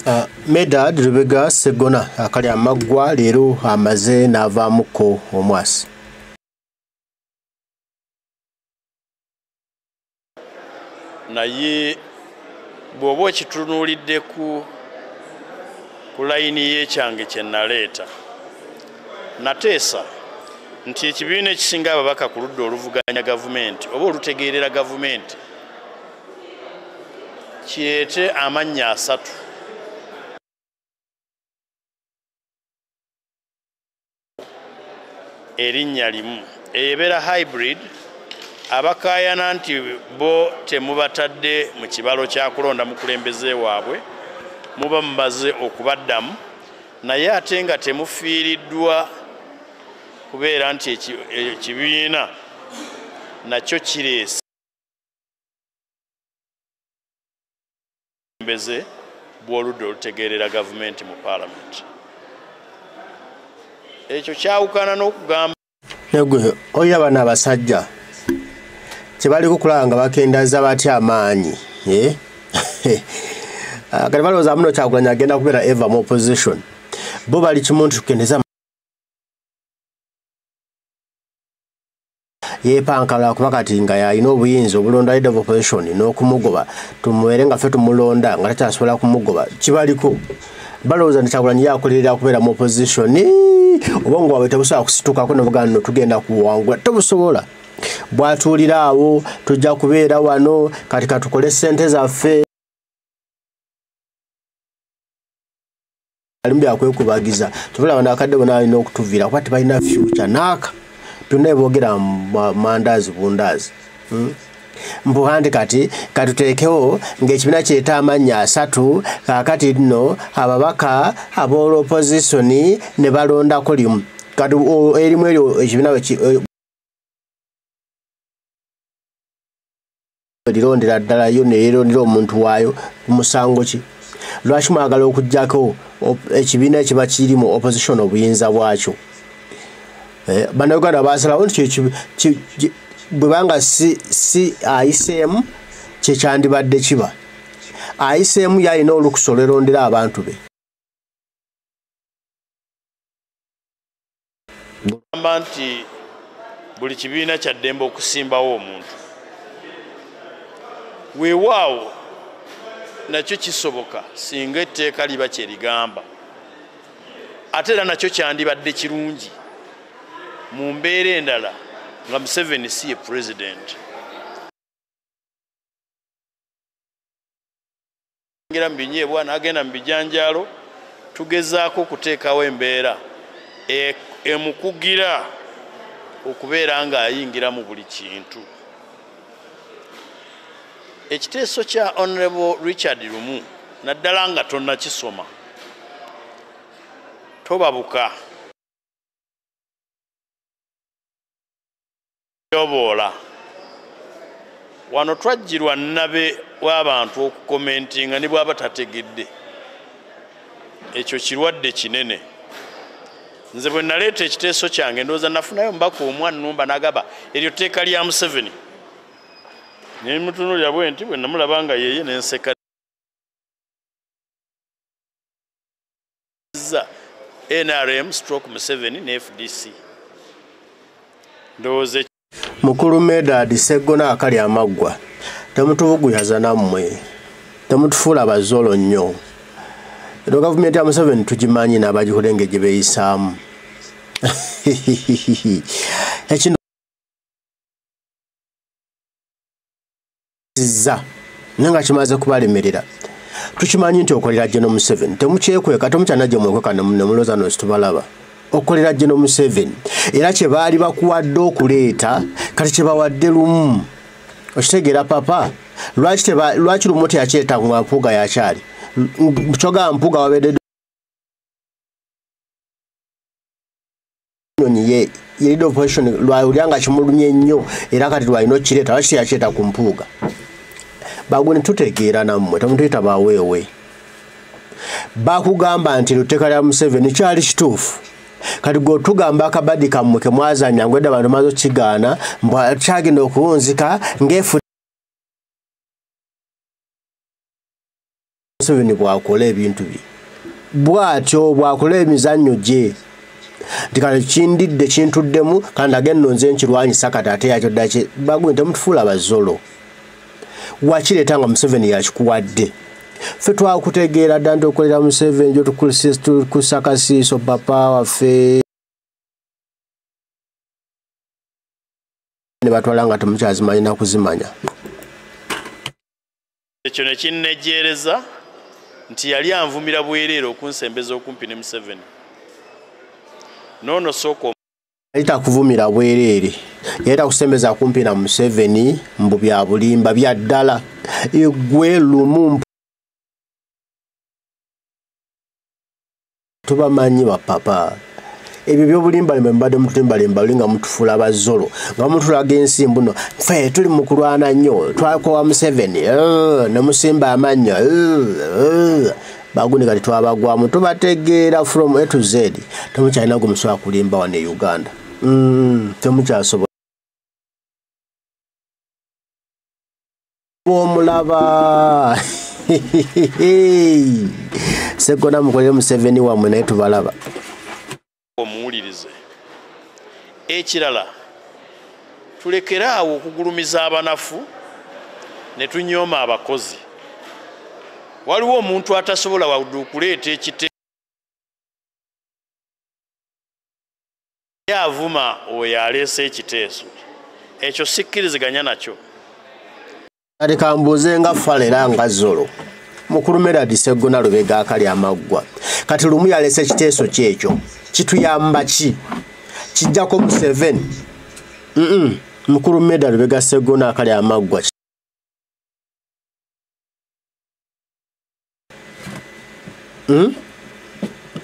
Uh, medad lubega segona akali amaggwa leero amaze n'avaamuko omwasi naye bw'oba okitunuulidde ku ku layini y'ekyange kye naleeta nateesa nti ekibiina ekisinga ababaka ku ludda oluvuganya gavumenti oba olutegeerera gavumenti kireete amannya asatu erinnya limu eyo ebeera hybrid abakaayana nti bo temubatadde mu kibalo kyakulonda mukulembeze waabwe muba mubaze okubaddamu naye ate nga temufiiriddwa kubeera nti ekibiina nakyo kireese obukulembeze bw'oludda olutegeerera gavumenti mu paalamenti ekyo kyawukana n'okugamba negwe oyo abana abasajja kyebaliko kulaba nga bakendaza batya amaanyi eh? ah, kati balowooza muno kyakulanya agenda kubeera eva mu opposition bo bali kimuntu tukendeza yeepanka lwakuba kati nga yalina obuyinza obulonda leader of opposition n'okumugoba tumubeere nga ffe tumulonda nga takyasobola kumugoba kibaliko balowooza nti kyagulanyi yakolerera kubeera mu opposition obwongo bwabwe tebusobola kusitukako nebugana no tugenda kuwangula tebusobola bwatuulira awo tujja kubeera wano kati katukole ssente zaffe alimu byakwekubagiza tubula bano akadde bona alina okutuviira kuba tebalina fyuca naaka byonna ebogera mandaazi bundaazi hmm? mbuhandi kati katuteekewo ng'ekibiina kireeta amannya asatu kaakati nno ababaka ab'olopozisoni ne balondako limu kati erimu eryo ekibiina erirondera ddala yo neyerondera omuntu waayo ku musango ki lwaki mwagala okujjako ekibiina ekiba kiri mu opposition obuyinza bwakyo eh, banauganda basalawo nti bwebanga si ayiseemu kyekyandibadde kiba ayiseemu yalina olukusa olwerondera abantu be gamba nti buli kibiina kyaddembe okusimbawo omuntu weewaawo nakyo kisoboka singa etteeka liba kyerigamba ate era nakyo kyandibadde kirungi mu mbeera endala nga museveni si ye pulezidenti ngera mu binyeebwa n'agenda mu bijanjaalo tugezaako okuteekawo embeera e, emukugira okubeera ng'ayingira mu buli kintu ekiteeso kya honorable richard lumu naddala nga tonnakisoma tobabuka yoboola wano twajjirwa nabe w'abantu okukomentinga ne bwaba tategedde ekyo kirwadde kinene nze bwe naleeta ekiteeso kyange ndowooza nafunayo mbaka omwannumba nagaba eryo tteeka lya museveni naye mutunulira bwe nti bwe namulaba nga yeye nenseka nrm stroke museveni ne fdc ndowooza mukulu medad seggona akali amaggwa temutubuguyaza nammwe temutufuula bazolo nnyo eno gavumenti ya museveni tugimanyi n'abagikulenge gye beeyisaamu ziza naye nga kimaze kubalemerera tukimanyi nti okolera jeno museven temukyekweka temukyanajja mwekweka nemuloza nosi tubalaba okolera jeno museven era kyebaali bakuwadde okuleeta kati kyebawadde lumu okitegeera papa lwaki lumu teyakireeta nga mpuuga yakyali kyogaa mpuuga wabedde nyonyi ye yelida operation lwawulira nga kimulumye nnyo era kati lwalina okireeta lwaki teyakireeta ku mpuuga bagwe netutegeera nammwe temutuyita baweewe bakugamba nti luteeka lya museveni kyali kituufu kati gwe otugamba akabadi kammwe kemwazanya ngwedda bantu maze okigaana mbwakyagenda okuwunzika ngaefu museveni bwakola ebintu bye bwatyo bwakola emizannyo gye nti kale kindidde kintuddemu kandi agenno nze nkirwanyisa kati ate yakyo ddaki bagwe temutufuula bazolo wakireeta nga museveni yakikuwadde fe twakutegeera dda nti okolera museveni gyotukusakasiiso papa waffe ne batwala nga temukyazimanyi nakuzimanya ekyo ne kinnejjeereza nti yali anvumira bwereere okunsembeza okumpi ne museveni noono sooka yali takuvumira bwereere yali takusembeza kumpi na museveni mbu bya bulimba bya ddala egwe lumu tubamanyi bapapa ebyo byobulimbalimba mubadde mutulimbalimba oli nga mutufuula abazolo nga mutulaga ensi mbuno fe tuli mu kulwana nnyo twakowa museveni eh, ne musimba amannyo eh, eh. bagundi kati twabagwamu tubategeera from a to z temukyalina gwe musobola kulimba wano e uganda mm, temukyasobola bwomulaba segona mukolere museveni wamwe naye tubalaba omuwulirize ekirala tulekere awo okugulumiza abanafu ne tunyooma abakozi waliwo omuntu atasobola wadu okuleeta ekite ye avuma oyo aleese ekiteeso ekyo sikkiriziganya nakyo kati kambuuze nga fala era nga zolo mukulu meradi seggona lubega akali amaggwa kati lumu yalese ekiteeso kyekyo kituyamba ki kijjako museven mukulu meda lubega seggona akali amaggwa hmm?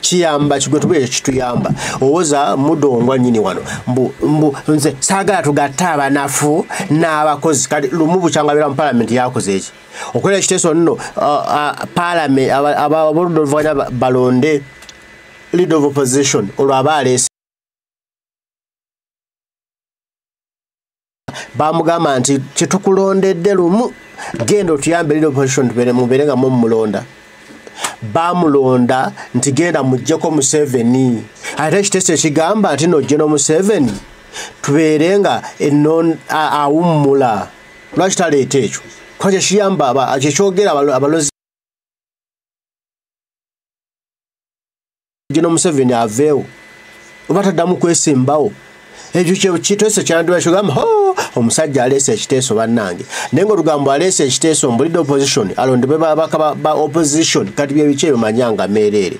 kiyamba kigwe tuba ekyo kituyamba owoza mudongwa nyini wano mbu mbu nze saagala tugatte abanafu n'abakozi kati lumu bukyanga beera mu palamenti yakoze eki okwera ekiteeso nno palamenti aboludda oluvuganya balonde lead of opposition olwaba aleese bamugamba nti kyetukulondedde lumu genda otuyambe lino position tubere mubere nga mu mulonda bamulonda nti genda mujjeko museveni ate ekiteeso ekigamba nti nojje nomuseveni tubeere nga awummula lwaki taleeta ekyo kuba kyekiyamba kyekyogera abalozi gino museveni aveewo oba taddamu kwesimbawo ekyo kyekiteeso kyandibakigamba ho omusajja aleese ekiteeso bannange naye nga olugambo aleese ekiteeso mbulidde opposition alondebwe babaka ba opposition kati byebiki ebyo manyanga meereere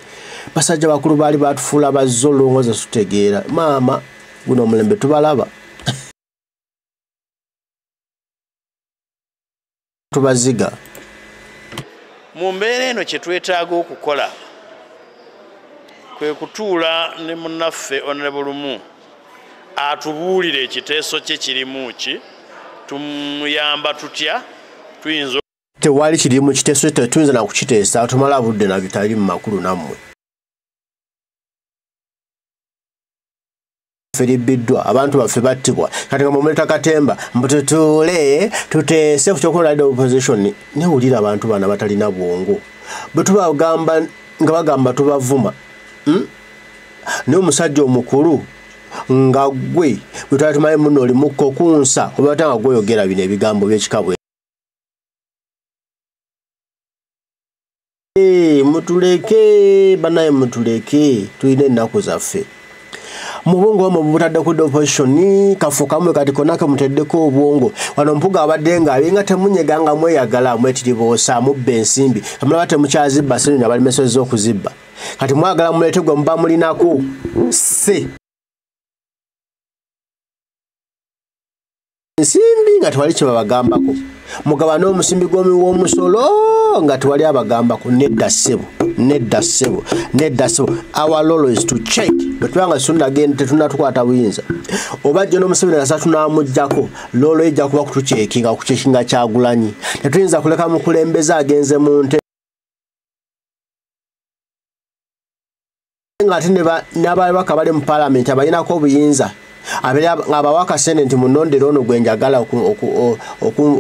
basajja bakulu baali batufuula bazze olulongoza tutegeera maama guno omulembe tubalaba tubaziga mu mbeera eno kye twetaaga okukola kwe kutuula ne munaffe onrebulumu atubuulire ekiteeso kye kirimu ki tumuyamba tutya tuyinza tewali kiri mu kiteeso kye tetuyinza nakukiteesa tumala budde nabitali mu makulu nammwe firibiddwa abantu baffe battibwa kati nga mumuleta katemba mbu tutuule tuteese kukyokulade opposition newulira abantu bana batalina bwongo bwetubagamba nga bagamba tubavuma hmm? naye omusajja omukulu nga gwe bwetwali tumaye muno olimukka okunsa obata nga gwoyogera bino ebigambo byekikabwe Hey, mutuleke banaye mutuleke tulina ennaku zaffe mubwongo wamwe bubutadde kudda opposition kafu kamwe kati kona kemuteddeko obwongo wano mpuga abadde nga alinga temunyega nga mweyagala mwetiribuusa mubba ensimbi amulaba temukyazibba sirina balimesezza okuzibba kati mwagala mulete gwe muba mulinako se ensimbi nga tewali kyebabagambako mugaba n'omusimbi gwomi w'omusolo nga tewali abagambako nedda ssebo nedda ssebo nedda ssebo our lolo is to check bwetuba nga situnagenda tetunatukwata buyinza oba jjo n'omuseveni nasa tunamugjako lolo ejja kuba kutucekinga kucekinga kyagulanyi tetuyinza kuleka mukulembeze agenze mu nte nga ate n'ababaka bali mu palamenti abalinako obuyinza abawa akasente nti munondera ono gwe njagala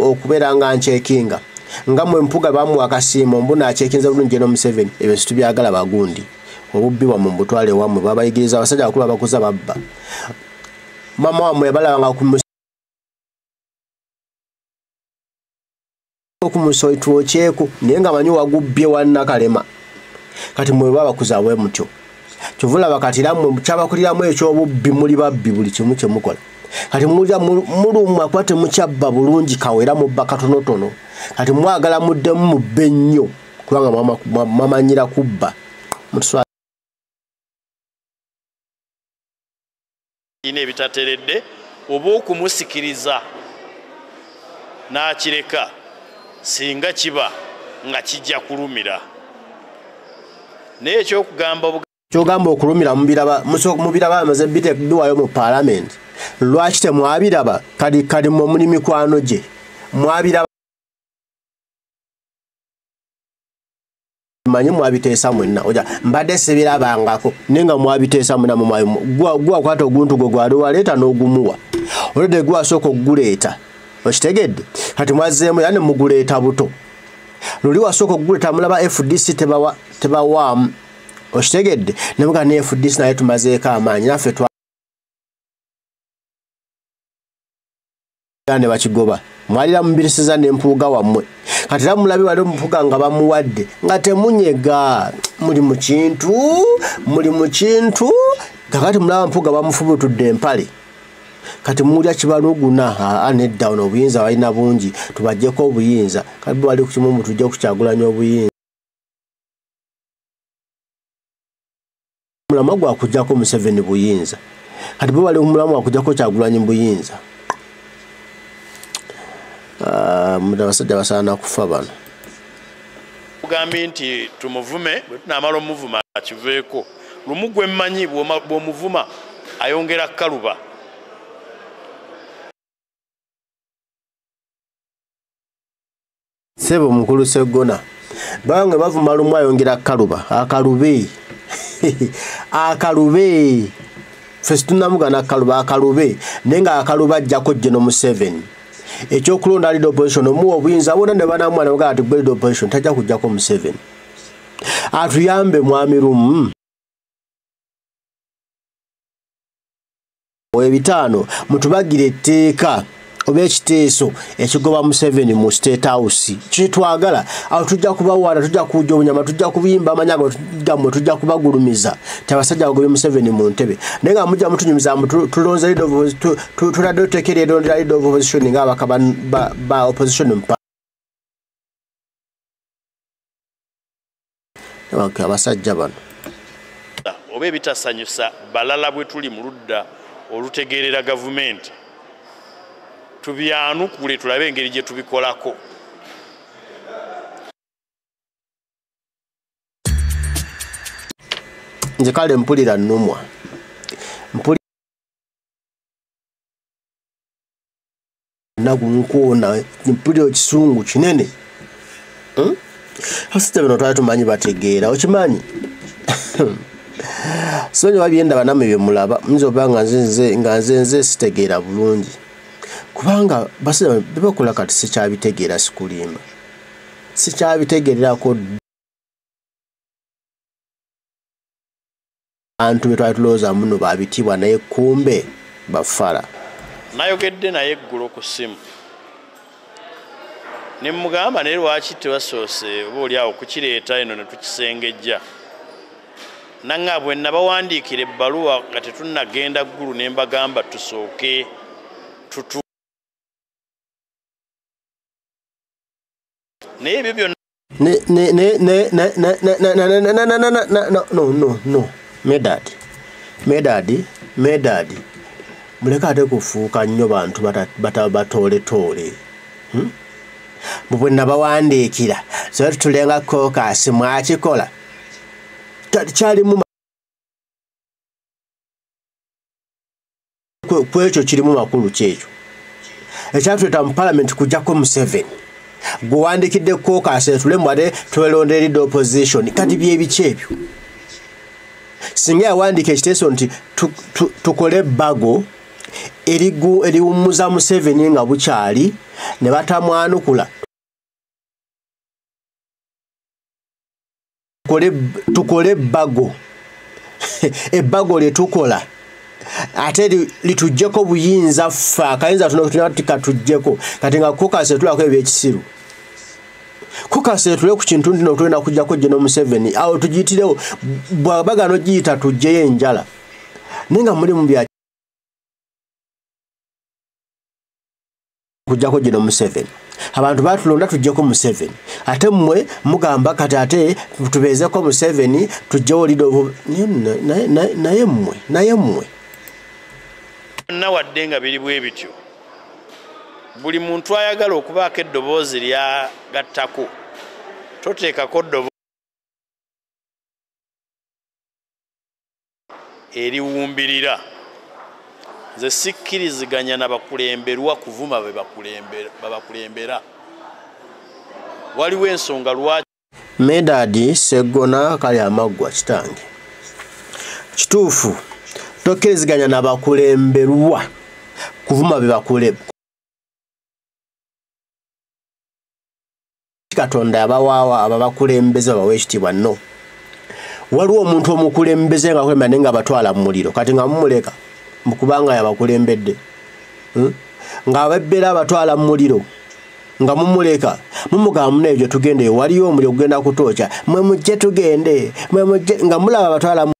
okubeera nga nkyekinga nga mwe mpuga bamuwa akasiimo mbuna akyekinza bulungi geno museveni ebyo situbyagala bagundi obubbi bwamwe mubutwale wamwe babayigiriza abasajja bakulu abakuza babba mama wamwe yabalabanga ku okumusoi twokyeko naye nga manyi wagubbye wanakalema kati mweba abakuza bwe mutyo kyovula bakatiramwe kyabakuliramu ekyobubbi muli babbi buli kimu kyemukola kati mulya mulumwa kuba temukyabba bulungi kawera mubba katonotono kati mwagala muddemu mubbe nnyo kubanga mwamanyira kubba ina ebitateredde oba okumusikiriza n'akireka singa kiba nga kijja kulumira naye ekyokugamba kyogamba okulumira mubiraba amaze biteduwayo mu palamenti lwaki temwabiraba kadi kadi mwe muli mikwano gye mwabiraba manyi mwabiteesa mwenna oja mbadde sibirabangako naye nga mwabiteesa muna mumwayimu gwa kwata oguntu gwe gwali waleeta n'ogumuwa olwedde gwe asooka okuguleeta okitegedde kati mwazzeemu yani muguleeta buto luli wasooka okuguleeta mulaba fdc tebawaamu okitegedde nebuga ne fdc naye tumazeeko amaanyi naffe era ne bakigoba mwalira mubirisiza ne mpuuga wammwe kati era mulabi wali omupuga nga bamuwadde nga temunyega muli mu kintu muli mu kintu kakati mulaba mpuga bamufubutudde empale kati mulya kibaluguna aa nedda ono obuyinza balina bungi tubajjeko obuyinza kati bwali ku kimu mutujja okukyagulanya obuyinza mulamwa gwakujako museveni buyinza kati bo bali mulamwa wakujako kyagulanyi buyinza ah, abasajja basaana kufa bano ugambye nti tumuvume bwetunamala omuvuma akiveeko lumu gwemmanyi bwomuvuma ayongera kaluba sebo mukulu segona bange bavuma lumu ayongera akaluba akalube akalube fesi tunamugana akaluba akalube naye nga akaluba ajjako jeno museven ekyokulonda lead opposition omuwa obuyinza bona ne banamwana bagaa ti gwe lead opposition tajja kujjako museven atuyambe mwami lumu ebitaano mutubagire etteeka oba ekiteeso ekigoba museveni mu state house kyetwagala awo tujja kubawaana tujja kuja obunyama tujja kubimba amanya gamwe tujja kubagulumiza tiabasajja bagobe museveni mu ntebe naye nga mujja mutunyumiza tulonze tuladde otekera erondera lead of opposition nga abaka ba opposition abasajja bano oba ebitasanyusa balala bwe tuli mu ludda olutegeerera gavumenti tubyanukule tulabe engeri gye tubikolako nze kale mpulira nnumwa naku nkuona mpulira ekisungu kinene hmm? abasajja bino twali tumanyi bategeera okimanyi sonyi wabyenda baname byemulaba nyinza oba nga nzenze nga nzenze sitegeera bulungi kubanga basajja bebakola kati sikyabitegeera sikulimba sikyabitegeererako abantu be twali tulowooza muno babitiibwa naye kumbe bafala nayogedde naye eggulo ku ssimu ne mugamba naye lwaki tebasoose oba oli awo kukireeta eno ne tukisengejja nanga bwe nabawandiikira ebbaluwa nga tetunnagenda ggulu ne mbagamba tusooke tutu naye ebyo byonna medad medad medad muleke ate kufuuka nnyo bantu batooletole hmm? mubwe nabawandiikira so tutulenga kokasi mwakikola kyalimu ku ekyo kirimu makulu kyekyo ekyatuleeta mu palamenti kujjako museveni gwe wandikidde kukookaseetule mbu ate twelondeeridde opposition kati byebiki ebyo singa yawandiika ekiteeso nti tukole bago eriwummuza museveni nga bukyali ne batamwanukula tukole ebbago ebbago lye tukola ate litujjeko buyinza ffe akayinza tunotunatikatujjeko kati nga kukasetulako ebyekisiru kukasetule ku kintu ntino tulina kujjako jeno museveni awo tugiyitirewo bwabagana ogiyita tujjeyo enjala naye nga mulimu bya kujjako gino museveni abantu batulonda tujjeko museveni ate mmwe mugamba kati ate tubeezeko museveni tujjewo lido naye mmwe naye mmwe byonna wadde nga biri bwe bityo buli muntu ayagala okubaako eddoboozi lyagattako toteekako eriwumbirira nze sikkiriziganya na bakulemberwa kuvuma bebakulembera waliwo ensonga lwaki medadi seggona kali amaggwa kitange kituufu tokkiriziganya na bakulemberwa kuvuma bebakuleb katonda abawaawa ababakulembeze babawa ekitiibwa no waliwo omuntu omukulembeze nga kwemba naye nga abatwala mu muliro kati nga mumuleka mukubanga yabakulembedde hmm? ng'abebbera abatwala mu muliro nga mumuleka mumugamba muna ebyo tugendeyo waliyo omuli okugenda kutooca mwe mujje tugende mwe mujje nga mulaba abatwala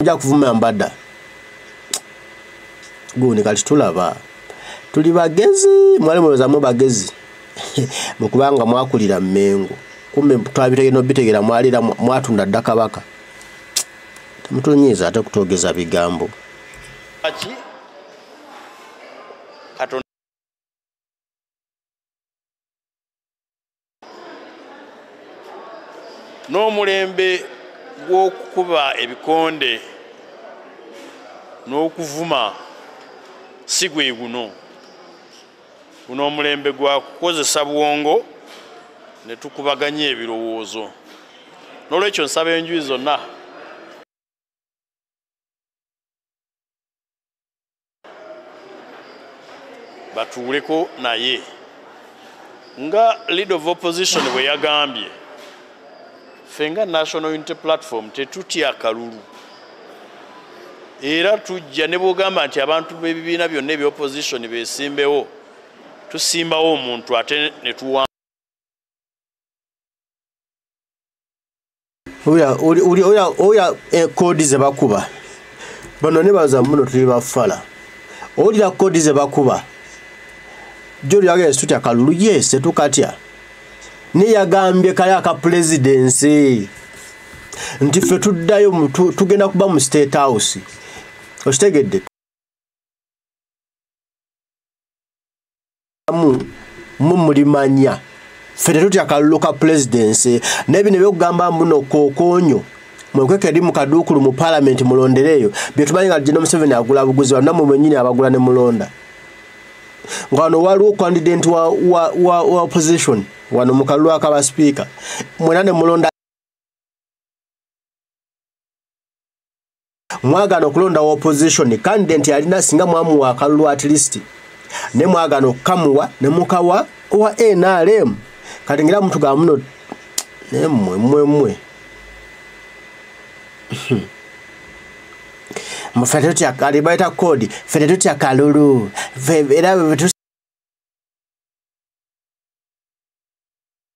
ojja kuvuma mbada gundi kati tulaba tuli bagezi mwali mulozamu bagezi mukubanga mwakulira mengo kumbe twabitegera obitegera mwalira mwatunda dda kabaka temutunyiiza ate kutwogeza bigambo n'omulembe gw'okukuba ebikonde n'okuvuma si gwe guno guno omulembe gwa kukozesa bwongo ne tukubaganya ebirowoozo n'olwekyo nsaba enjuyi zonna batuuleko naye nga leader of opposition bwe yagambye ffe nga national unity platform tetutya kalulu era tujja ne bwogamba nti abantu b'ebibiina byonna ebya opposition besimbewo tusimbawo omuntu ate netuwa oya koodi eh, zebakuba bano nebaza muno tuli bafala owulira koodi zebakuba joliraga esutya kalulu yes tetukatya naye yagambye kali aka pulezidensi nti ffe tuddayo tugenda kuba mu state house okitegedde amu mu mulimanya ffe tetutya kalulu ka pulezidence naye bino ebyokugamba mbuno kokonyo mwekweka eri mu kaduukulu mu palamenti mulondereeyo byetumanyi nga gino museveni agula buguzi wano namwe mwenyini abagula ne mulonda nga wano waliwo kandidenti wa, wa, wa, wa opposition wano mu kalulu akaba sipiika mwena ne mulonda mwagana okulonda wa opposition candidate yalina singa mwamu wa kalulu at least ne mwagana okukamuwa ne mukawa owa nrm kati ngira muntu ga muno nemwe mwe mwe mufete tutya kali baita code fete tutya kalulu era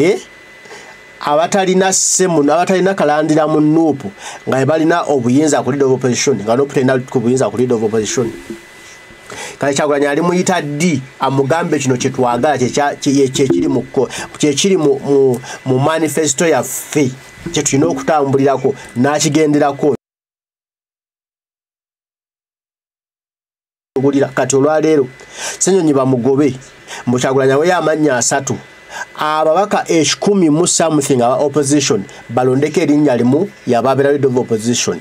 eh? abatalina simu abatalina kalandira mu nup nga balina obuyinza ku lead of opposition nga nup talina ku buyinza ku lead of opposition kale kyagulanyi ali muyita ddi amugambe kino kyetwagala kyekiri kyekiri mu manifesto yaffe kyetulina okutambulirako n'akigenderako bulira kati olwaleero senyonyi bamugobe mbukyagulanya weyo amannya asatu ababaka ekikumi mu something aba opposition balondeko erinnya limu yababera lead of opposition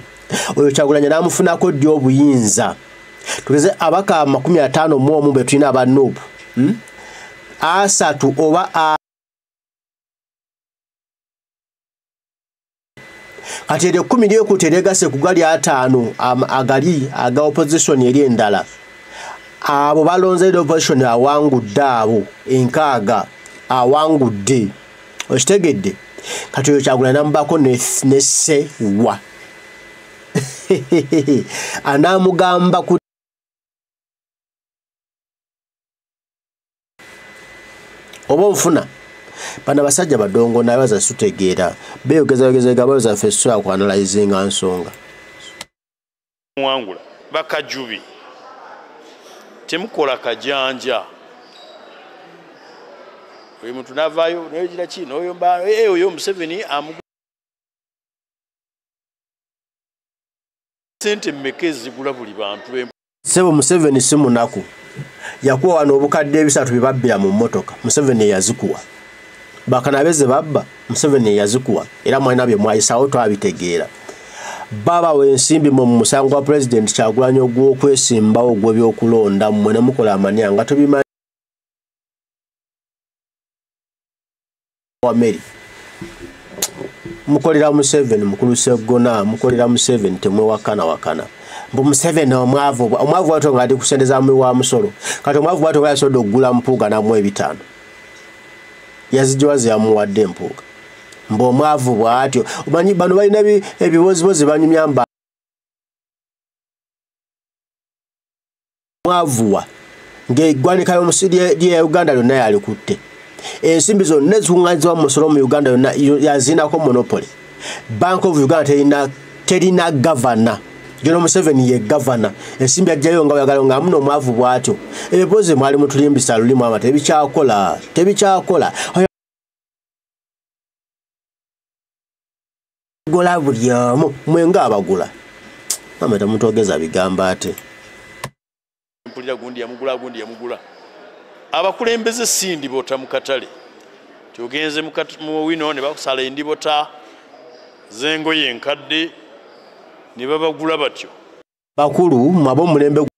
oyo kyagulanya namufunako ddi obuyinza tugeze abaka amakumi ataano mu omu betulina aba nup hmm? asatu oba kati eryo ekkumi lyekuuta eryegase ku gali ataano agali aga opozisoni eri endala abo balonze eri opozisoni awangudde abo enkaaga awangudde okitegedde kati oyo kyagula namubako nese wa anamugamba ku oba onfuna bana basajja badongo naye baza sutegeera beyogeza yogeza egaba baza ffe so akwanalayizinga nsonga muwangula bakajubi temukola kajanja oyo muntu navaayo noyogira ki noyo mba eh, oyo museveni amu sente mmeka ezigula buli bantu be sebo museveni si munaku yakuwa wano obukadde ebisatu byebabbira mu mmotoka museveni eyazikuwa bakanabe ze babba museveni eyazikuwa era mwalina bye mwayisawo twabitegeera baba wensimbi mu musango gwa pulezidenti kyagulanyi ogw'okwesimbawo gw'ebyokulonda mmwe ne mukola amanya nga tubimanyi wa meri mukolera museveni mukulu segona mukolera museveni temwewakana wakana mbu museveni omwavu omwavu wato nga ali kusente za muwi wa musolo kati omwavu wato nga yasobodde okugula mpuuga namu ebitaano yazijowazi yamuwadde empuuga mbu omwavu bwatyo omanyi bano balina ebibozibozi banyumya mba mwavuwa ng'eggwanika y'omusi lya uganda lyonna yalikutte ensimbi zonna ezikunganizibwa mu musolo mu uganda yonna yaziinako monopoly bank of uganda terina terina gavana jona museveni ye gavana ensimbi ajjayo nga oyagala nga amuno omwavu bwatyo ebiboozi mwali mutulimbisa lulimu ama tebikyakola tebikyakola gola buli omu mwe nga abagula mama tamutogeza bigambo ate mpulira gundi yamugula gundi yamugula abakulembeze si ndibota mu katale tyogenze mu wino ne bakusala endibota zengoye enkadde ne babagula batyo bakulu mwaba omulembe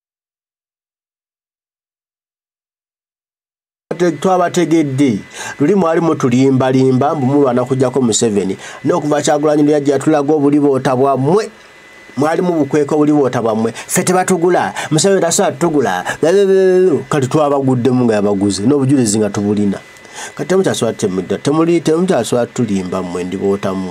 twabategedde luli mwali mutulimbalimba mbu mulwana kujjako museveni n'okuva kyagulanyi lwe yajja yatulaga obuliboota bwammwe mwali mubukweka obuliboota bwammwe ffe tebatugula museveni tasobola tutugula kati twabaguddemu nga yabaguze n'obujulizi nga tubulina kati temukyasobola tutemudda temuli temukyasobola tutulimba mmwe ndibootamu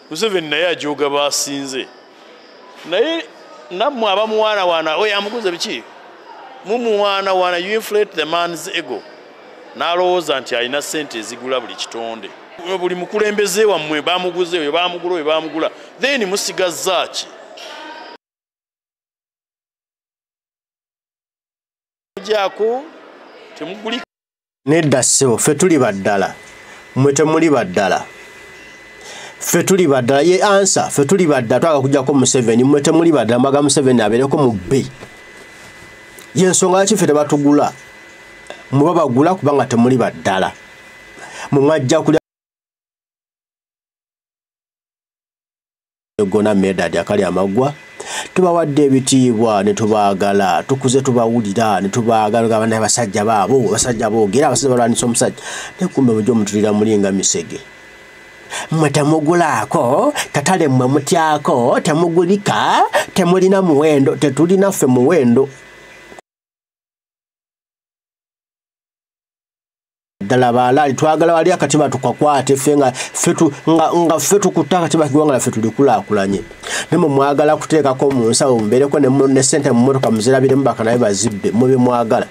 museveni naye ajoga basinze naye nammwe abamuwaanawaana oyo amuguze biki mumuwaanawaana you inflate the man's ego n'alowooza nti alina ssente ezigula buli kitonde buli mukulembeze wammwe bamuguze oyo bamugula oyo bamugula then musigazzaaki nedda ssebo ffe tuli baddala mwe temuli baddala ffe tuli baddala ye ansa ffe tuli baddala twaka kujjako museveni mwe temuli baddala mbaga museveni abeereko mu bbe yensonga lwaki ffe tebatugula muba bagula kubanga temuli baddala mwe mwajja kulya gona medad akali amaggwa tubawadde ebitiibwa ne tubaagala tukuze tubawulira ne tubaagala gaba naye basajja baabo basajja boogera abasajja balwanyisa omusajja naye kumbe mujja omutulira mulinga misege mmwe temugulaako katale mmwe mutyako temugulika temulina muwendo tetulina ffe muwendo ddala baalaali twagala wali akatiba tukakwate ffe nga ffe tukutta akatiba kiwanga laffe tulikulaakulanye nemwe mwagala kuteekako mu nsawo mubeereko ne sente mu motoka muzirabiremu bakanaye bazibbe mwe bemwagala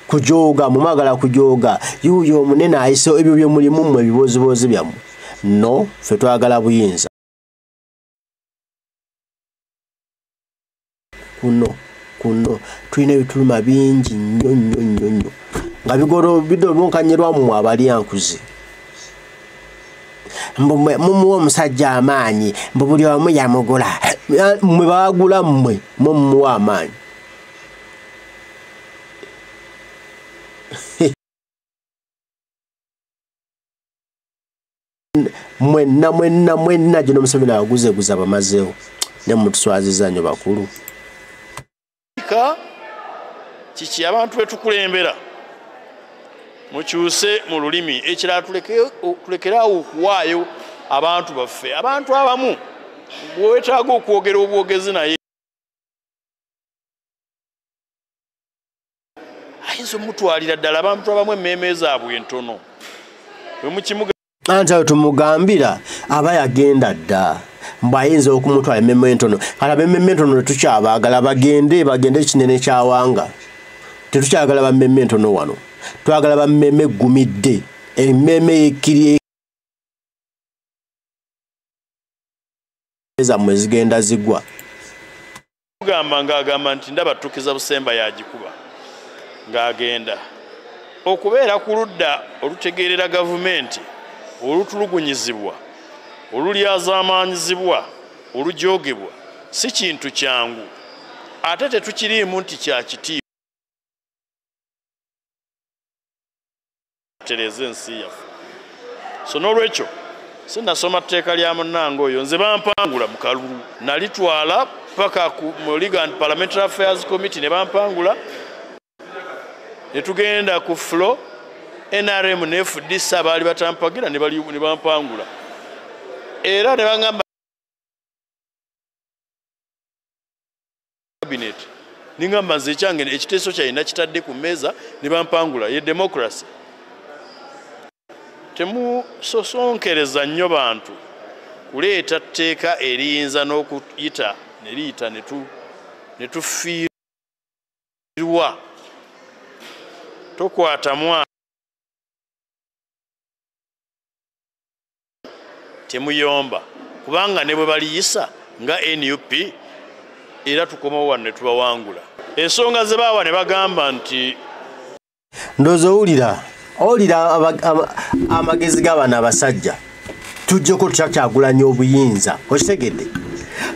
kujooga mumwagala kujooga yuuyo omunene ayise ebyo byemulimu mwe ebiboozibozi byammwe no ffe twagala buyinza kuno kuno tulina ebituluma bingi nnyo nnyo nnyo nnyo nga bigoro bidolunkanyirwamu abalyankuzi mumuwa omusajja amaanyi mbu buli omu yamugula mwe bagula mmwe mwe mumuwa amaanyi mwenna mwenna mwenna gino museveni aguzeguza abamazeewo ne mutuswaziza nyo bakulu ka kiki abantu betukulembera mukyuse mu lulimi ekirala tulekeraawo okuwaayo abantu baffe abantu abamu bwewetaaga okwogera obwogezi naye ayinza omutwalira ddala abantu abamu emmeeme zaabwe entono anti ayo tumugambira aba yagenda dda mbu ayinza okumutwala emmeeme entono kati abemmeeme entono tetukyabaagala bagende bagende ekinene kyawanga tetukyagala bammeeme entono wano twagala bammeeme eggumidde emmeeme yekkiri zammwe zigenda zigwa mugamba ng'agamba nti ndaba ttukiza busemba yagikuba ng'agenda okubeera ku ludda olutegeerera gavumenti olutulugunyizibwa olulyazaamaanyizibwa olujoogebwa si kintu kyangu ate tetukiriimu nti kya kitiibwa tereeza ensi yaffe so n'olwekyo sinasoma tteeka lya munnange oyo nze bampangula mu kalulu nalitwala paka ku legal and parliamentary affairs committee ne bampangula ne tugenda ku flo nrm ne fdc abaali batampagira ne bampangula era ne baŋamba cabinet ningamba nze ekyange ekiteeso kyaye nakitadde ku mmeeza ne bampangula ye democracy temusosonkereza nnyo bantu kuleeta tteeka eriyinza n'okuyita ne liyita ne tufiirwa tokwata mwana temuyomba kubanga ne bwe baliyisa nga nup era tukomawo wano ne tubawangula ensonga ze baawa ne bagamba nti ndoozi owulira owulira amagezi g'abaana abasajja tujjeko tutya kyagulanya obuyinza okitegedde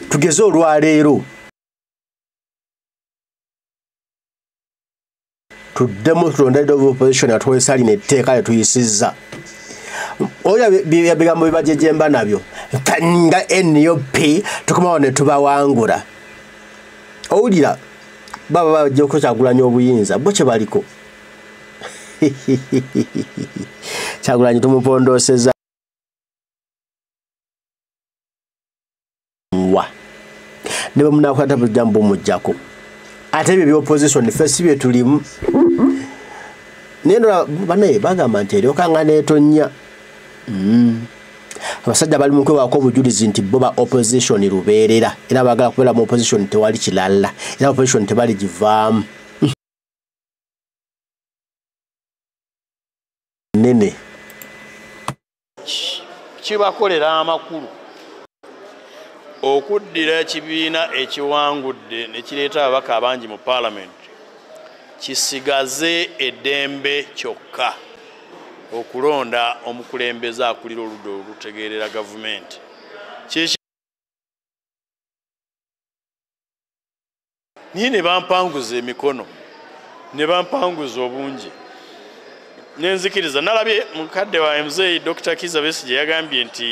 tugeze olwaleero tuddemu tulonda leader of opposition atwesa lino etteeka lyetuyisizza oyo bigambo bibajejemba nabyo nga nup tukomawo netubawangula owulira baba bajja okukyagulanya obuyinza bo kyebaliko kyagulanyi tumupondooseza mwa ne bamunakwata bujambo mujjako ate ebyo byopposition fe si bye tulimu naye ndola banaye bagamba nti eryokanga netonnya mm. abasajja bali mukwewaako obujulizi nti bo ba opposition lubeerera era bagala kubeera mu opposition tewali kilalla era opposition tebaligivaamu nene kibakolera amakulu okuddira ekibiina ekiwangudde ne kireeta ababaka abangi mu paalamenti kisigaze eddembe kyokka okulonda omukulembeze akulira oludda olutegeerera gavumenti naye ne bampanguza emikono ne bampanguza obungi nenzikiriza nalabye mukadde wa mzei dr kiza besi gye yagambye nti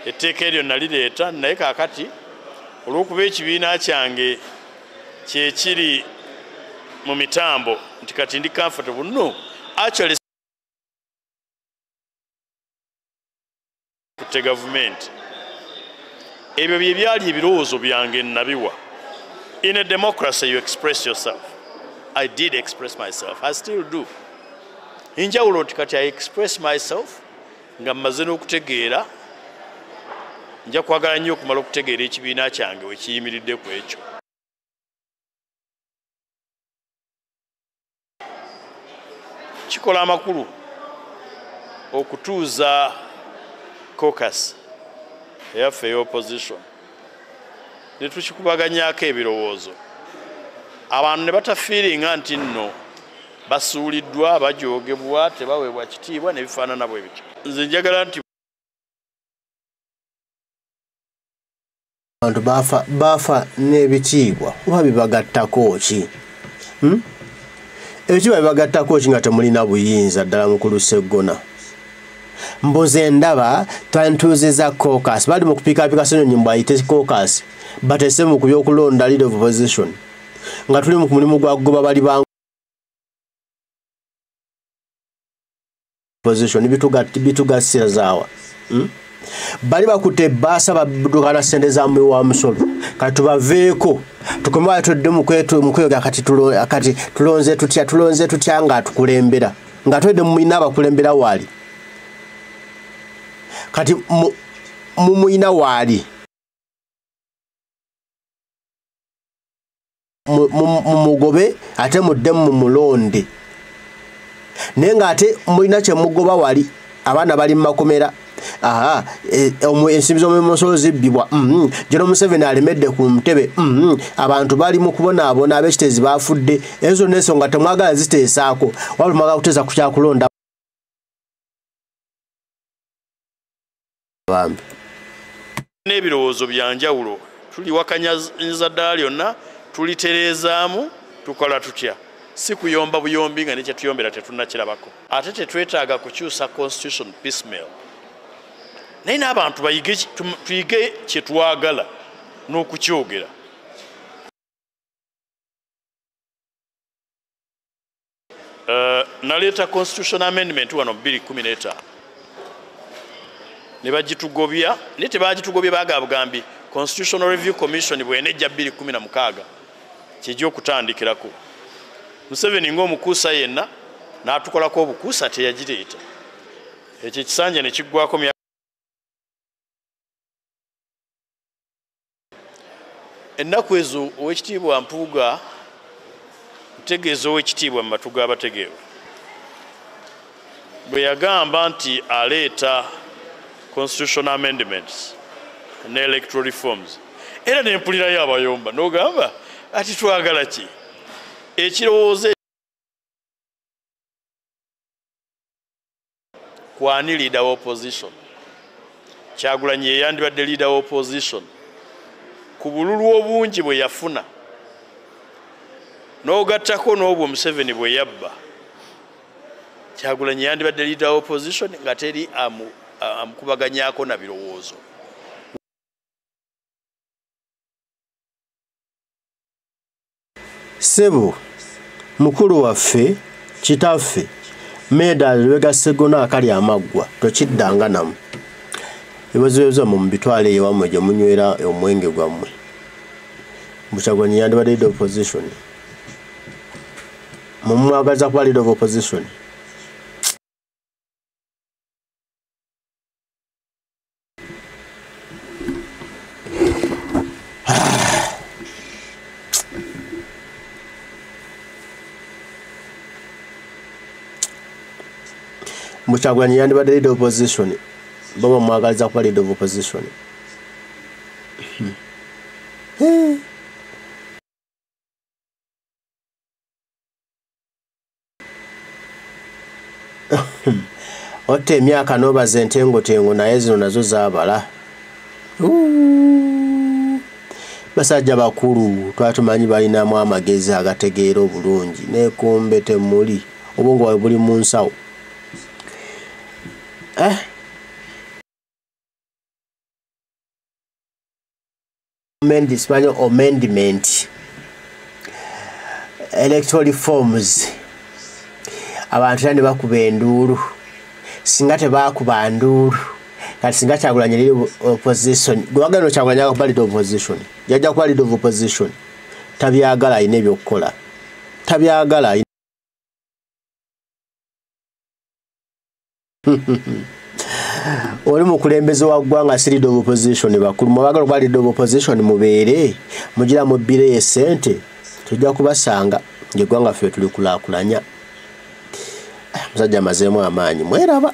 etteeka eryo nalireeta naye kakati olw'okuba ekibiina kyange kyekiri mu mitambo nti kati ndi comfortable no actually tutte gavumenti ebyo bye byali ebirowoozo byange nabiwa in a democracy you express yourself i did express myself i still do enjawulo nti kati i express myself nga mmaze n'okutegeera nja kwagala nnyo okumala okutegeera ekibiina kyange wekiyimiridde ku ekyo kikola amakulu okutuuza cocus eyaffe ey'opposition ne tukikubaganyako ebirowoozo abantu ne batafiiringa nti nno basuuliddwa bajoogebwa tebaweebwa kitiibwa ne bifaanana bwe bityo nze njagala nti abantu baafa baafa n'ebitiibwa oba bibagattako ki hmm? ebitiibwa bibagattako ki nga temulina buyinza ddala mukulu seggona mbuze ndaba twantuuzizza cocas bali mu kupiikapiika senyonyi mbu ayite cocas batese mu ku byokulonda lead of position nga tuli mu mulimu gwa goba bali ba position bitugasirazawa hmm? bali bakute basa badukana sente za mwe wa musolo kati baveeko tukomaye tudde mukwetu mukweyoga kati tulo kati tulonze tutya tulonze tutya nga tukulembera nga twede mumina abakulembera wali kati mumuyina wali mumugobe ate mudde mumulonde naye nga ate mulina kyemugoba wali abaana bali mumakomera aha e, ensimbi zomumusolo zibbibwa mm-hmm. gino museveni alemedde ku ntebe mm-hmm. abantu bali mu kubonaabona abekiteezi bafudde ezo zonna ensonga temwagala ziteesaako wabula mwagala kuteesa ku kyakulonda bambi n'ebirowoozo bya njawulo tuliwakanyaza ddala lyonna tulitereezaamu tukola tutya si kuyomba buyombi nga nekyetuyombera tetunakirabako ate tetwetaaga kukyusa constitution piecemeal naye n'abantu tuyige kyetwagala n'okukyogera Eh, naleeta constitution amendment wano 215 ne bagitugobya naye tebagitugobye baga bugambi constitutional review commission bwenejja 216 kyejja okutandikirako museveni ngaomukuusa yenna n'atukolako obukuusa teyagireeta ekyo ekisanja nekiggwako ennaku ezo owekitiibwa mpuuga ntegeeza owekitiibwa mu matu g'abategeevu bwe yagamba nti aleeta constitutional amendments ne electoral reforms era nempulirayo abayomba nogamba ati twagala ki ekirowoozo kwani leader wa opposition kyagulanyi yeyandibadde leader wa opposition ku bululu obungi bwe yafuna n'ogattako n'obwo museveni bwe yabba kyagulanyi yandibadde leader wa opposition nga teri amukubaganyako na birowoozo ssebo mukulu waffe kitaffe meeda lwega ssegona akali amaggwa tokiddanga namu ebibazoyoza mu mubitwala eyo wamwe gye munywera omwenge gwammwe mukyagwanyi yandibadde lead opposition mumwagaliza kuba lead of opposition mukyagulani yandibadde lead opposition baba mwagaliza kuba lead of opposition hmm. Hmm. otta emyaka nobaza entengotengo naye zino nazo zabala basajja bakulu twatumanyi balinamu amagezi agategeera obulungi nekombe temuli obwongo bwawe buli mu nsawo eh? amendments manyi amendment electoral reforms abantu era ne bakuba enduulu singa tebakuba nduulu kati singa kyagulanyi liri opposition gwewagenda okyagulanyi aga kuba lead opposition yajja kuba lead of opposition tabyagala alina ebyokukola tabyagala oli mukulembeze wa ggwanga si leader of opposition bakulu mwebagala okuba leader of opposition mubeere mugira mubbireyo esente tujja kubasanga ngeggwanga ffe tulikulakulanya musajja amazeemu amaanyi mweraba